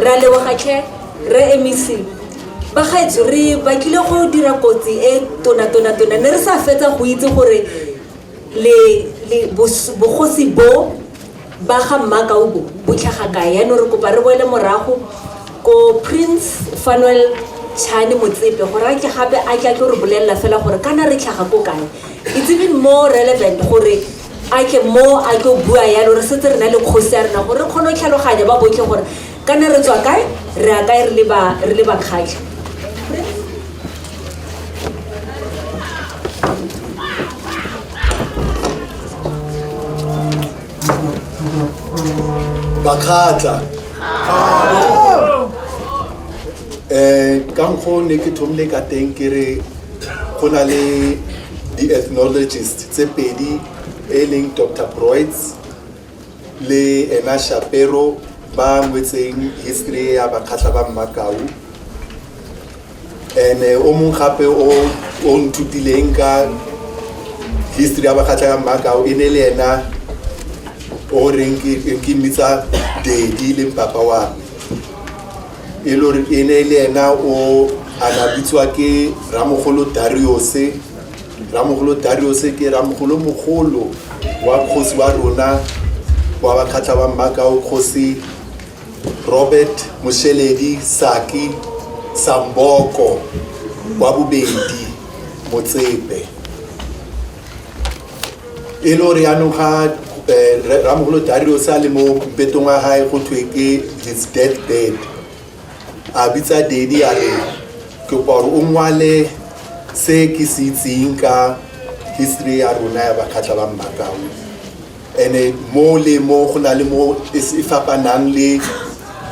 ra leboga tlhe re emisi bagaetso re bakile go dira kotsi e tonatonatona ne re sa fetsa go itse gore le le bogosi bo ba ga mmakau bo bo tlhaga kae yaanong re kopa re boele morago ko prince fanuel chane motsepe gore a ke gape a ke a tlo re bolelela fela gore kana re tlhaga ko kae it's even more relevant gore a ke mo a tlo bua yalo re setse re na le kgosi ya rena gore re kgone go tlhaloganya ba botlhe gore kana re tswa kae re ya kae re le bakgatlha bakgatla um ka mokgwa o ne ke thomile ka teng ke re go na le di-ethnologist tse pedi e leng dr broids le ena Shapero ba ngwetseng history ya bakgatlha ba mmakau and eh, o mong gape o o nthutileng ka history ya bakgatlha ya mmakau e ne le ena o reng ke mmitsa dedi le mpapa wa me e le gore e ne le ena o a na bitswa ke ramogolo dariose Rramogolo Dariose ke ramogolo mogolo wa kgosi wa rona wa bakgatlha ba Mmakao kgosi Robert Mosheledi Saki Samboko wa bobedi Motsepe e le gore yaanong ga eh, Rre- rramogolo Dariose a le mo mpetong wa gae go thwe ke his death bed a bitsa dedi a re ke kwa gore o ngwale se ke se itseng ka history ya rona ya bakgatlha ba mmakao ene mo le mo go na le mo e s- e fapanang le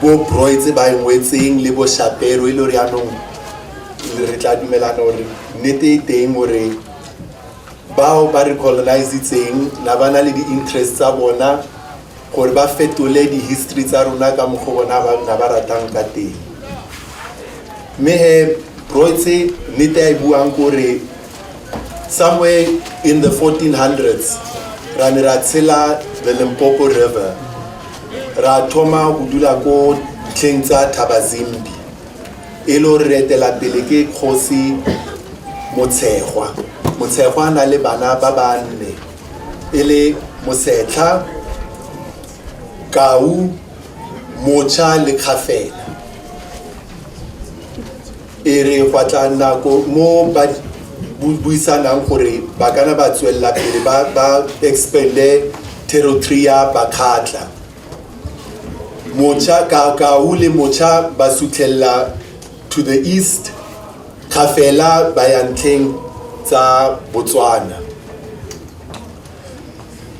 bo broy tse ba e ngwetseng le bo shapero e le gore yanong re tla dumelana gore nnete e teng gore bao ba re colonizitseng na ba na le di-interest tsa bona gore ba fetole di-history tsa rona ka mokgwa o bona ba nna ba ratang ka teng mme he broitse nnete a e buang kore somewhere in the 1400s ra ne ra tshela the limpopo river ra thoma go dula ko tlheng tsa thabazimbi e le gore re etela pele ke kgosi motshegwa motshegwa a na le bana ba ba nne e le mosetlha kau mocha le kgafela e re gwa tla nako mo ba buisanang gore ba kana ba tswelela pele ba ba expande territory ya bakgatla mocha ka kau le mocha ba sutlhelela to the east ga fela ba ya ntlheng tsa botswana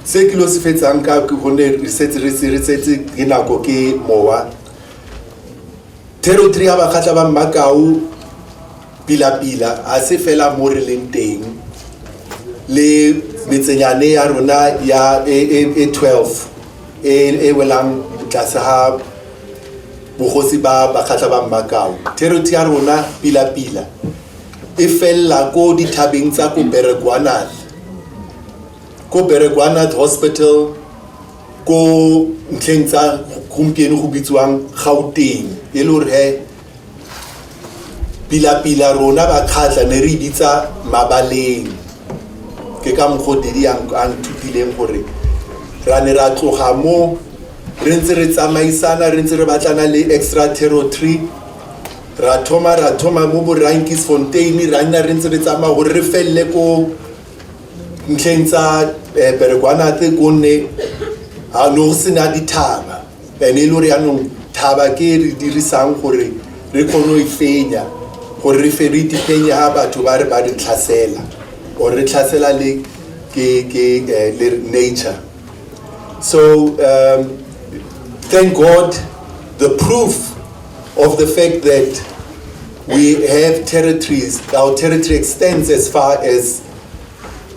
se ke lo se fetsang ka gonne re setse re se re setse ke nako ke mowa territory ya bakgatla ba mmakau pila-pila a se fela mo re leng teng le metsenyane ya rona ya e 12 e e welang tlase ga bogosi ba bakgatlha ba mmakao territory ya rona pila-pila e felela ko dithabeng tsa ko berekwanat ko berekwanat hospital ko ntlheng tsa gompieno go bitsiwang gauteng e le gore he pilapila rona bakgatla ne re bitsa mabaleng ke ka mokgwa o didi a nthutileng gore ra ne ra tloga mo re ntse re tsamaisana re ntse re batlana le extra territory ra thoma ra thoma mo borankis fontain ra nna re ntse re tsamaya gore re felele ko ntlheng tsa eh, berekwanate gonne ga no go sena dithaba ene e le gore yaanong thaba ke e re dirisang gore re kgone go e fenya gore re fe re itefenye ga batho ba re ba re tlhasela or re tlhasela le ke ke eh, le nature so um, thank god the proof of the fact that we have territories our territory extends as far as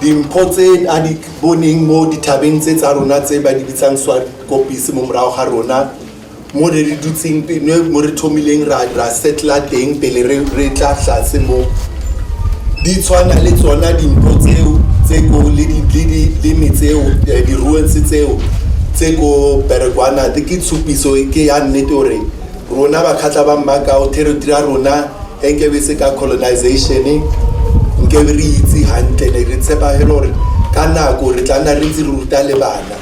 Dimpho tse a di boneng mo dithabeng tse tsa rona tse ba di bitsang swakopise mo morago ga rona mo re re dutseng mo re thomileng ra ra setla teng pele re re tla tlase mo di tshwana le tsona dimpho tseo tse ko le di le di le metseo di ruins tseo tse ko Beregwana ke tshupiso ke ya nnete gore rona bakgatla ba mmakao territory ya rona e nkebe se ka colonization nkebe re itse gantle ne re tshepa fela gore ka nako re tla nna re ntse re ruta le bana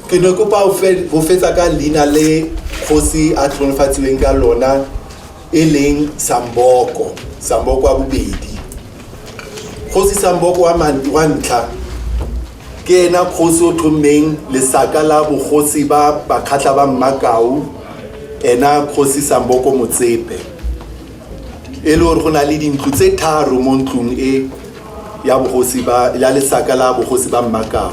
ke ne kopa go fetsa ka leina le kgosi a tlhonofatsiweng ka lona e leng samboko samboko wa bobedi kgosi samboko wa ntlha Ke ena kgosi o tlhommeng lesaka la bogosi ba Bakgatla ba Mmakau, ena kgosi Samboko Motsepe. E le gore go na le dintlo tse tharo mo ntlong e ya bogosi ba ya lesaka la bogosi ba Mmakau.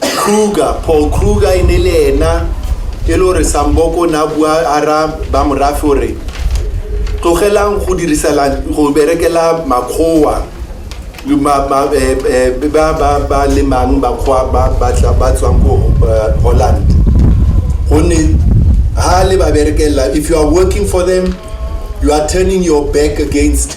Kruger, Paul Kruger e ne le ena e le gore Samboko ne a bua a ra ba morafe gore tlogelang go dirisela go berekela makgowa le ma- ma- eh, eh, ba ba ba lemang bakgowa ba ba tla- ba tswang ko eh, Holland gonne ha le ba berekela if you are working for them you are turning your back against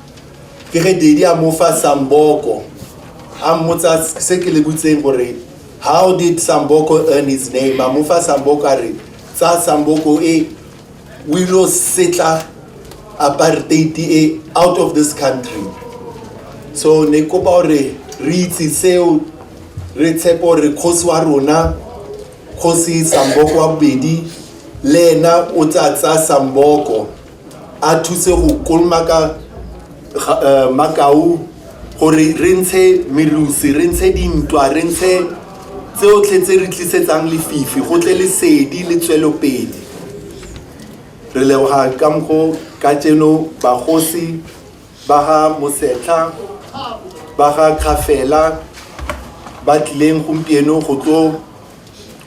ke ge didi a mo fa samboko a mmotsa se ke le butseng gore how did samboko earn his name a mo fa samboko a re tsa samboko e o ilo setla apartheid e out of this country so ne kopa gore re itse seo re tshepe gore kgosi wa rona kgosi samboko wa bobedi le ena o tsa tsaya samboko a thuse go kolomaka uh, makau gore re ntshe merusi re ntshe dintwa re ntshe tseotlhe tse re tlisetsang lefifi go tle lesedi le tswelopedi re leboga ka mokgo ka tseno bagosi ba ga mosetlha ba ga kgafela ba tlileng gompieno go tlo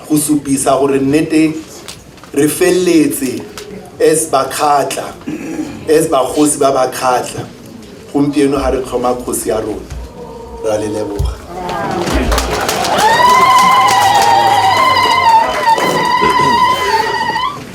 go supisa gore nnete re feleletse as bakgatla as bagosi ba bakgatla gompieno ga re tlhoma kgosi ya rona ra le leboga